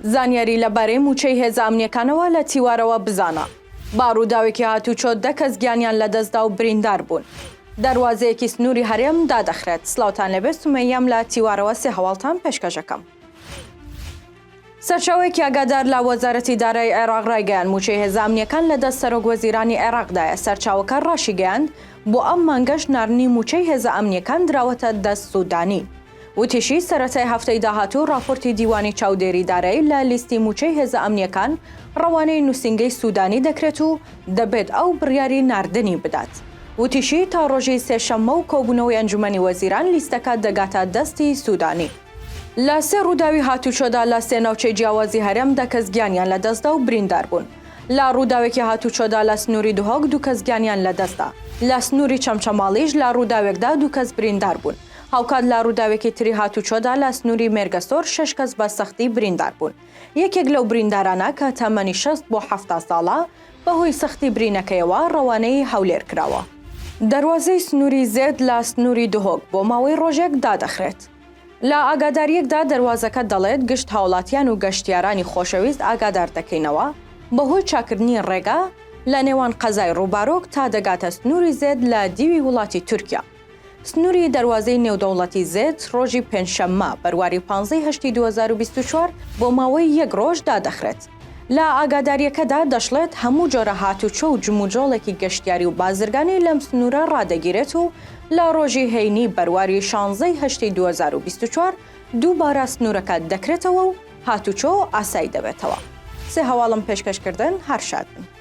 زانیاری لەبارەی مووچەی هێزە ئەمنیەکانەوە لە تیوارەوە بزانە. با ڕووداوێکی هاتوچۆ دە کەس گیانیان لەدەستدا و بریندار بوون. دەروازەیەکی سنووری هەرێم دادەخرێت سلاوتان لەبێ سومەییەم لە تیوارەوە سێ هەواڵتان پێشکەش ئەکەم. سەرچاوەیەکی ئاگادار لە وەزارەتی دارایی عێراق ڕایگەیاند، مووچەی هێزە ئەمنییەکان لە دەست سەرۆک وەزیرانی عێراقدایە، سەرچاوەکە ڕاشیگەیاند، بۆ ئەم مانگەش ناردنی مووچەی هێزە ئەمنییەکان دراوەتە دەست سوودانی. وتیشی، سەرەتای هەفتەی داهاتوو ڕاپۆرتی دیوانی چاودێری دارایی لە لیستی مووچەی هێزە ئەمنییەکان ڕەوانەی نووسینگەی سوودانی دەکرێت و دەبێت ئەو بڕیاری ناردنی بدات. وتیشی، تا ڕۆژی سێشەممە و کۆبوونەوەی ئەنجومەنی وەزیران لیستەکە دەگاتە دەستی سوودانی. لە سێ ڕووداوی هاتووچۆدا لە سێ ناوچەی جیاوازی هەرێم دە کەس گیانیان لەدەستدا و بریندار بوون. لە ڕووداوێکی هاتووچۆدا لە سنووری دهۆک دوو کەس گیانیان لەدەستدا. لە سنووری چەمچەماڵیش لە ڕووداوێکدا دوو کەس بریندار بوون. هاوکات لە ڕووداوێکی تری هاتووچۆدا لە سنووری مێرگەسۆر شەش کەس بە سەختی بریندار بوون. یەکێک لەو بریندارانە کە تەمەنی شەست بۆ حەفتا ساڵە، بەهۆی سەختی برینەکەیەوە ڕەوانەی هەولێر کراوە. دەروازەی سنووری زێد لە سنووری دهۆک بۆ ماوەی ڕۆژێک دادەخرێت. لە ئاگادارییەکدا دەروازەکە دەڵێت گشت هاوڵاتیان و گەشتیارانی خۆشەویست ئاگادار دەکەینەوە بەهۆی چاککردنی ڕێگا لە نێوان قەزای ڕووبارۆک تا دەگاتە سنووری زێد لە دیوی وڵاتی تورکیا. سنووری دەروازەی نێودەوڵەتی زێت ڕۆژی پێنجشەممە، بەرواری پانزە ی هەشتی دوو هەزار و بیست و چوار بۆ ماوەی یەک ڕۆژ دادەخرێت. لە ئاگادارییەکەدا دەشڵێت، هەموو جۆرە هاتوچۆ و جموجۆڵێکی گەشتیاری و بازرگانی لەم سنوورە ڕادەگیرێت و لە ڕۆژی هەینی بەرواری شانزە ی هەشتی دوو هەزار و بیست و چوار دووبارە سنوورەکە دەکرێتەوە و هاتوچۆ ئاسایی دەبێتەوە. سێ هەواڵم پێشکەشکردن، هەر شاد بن.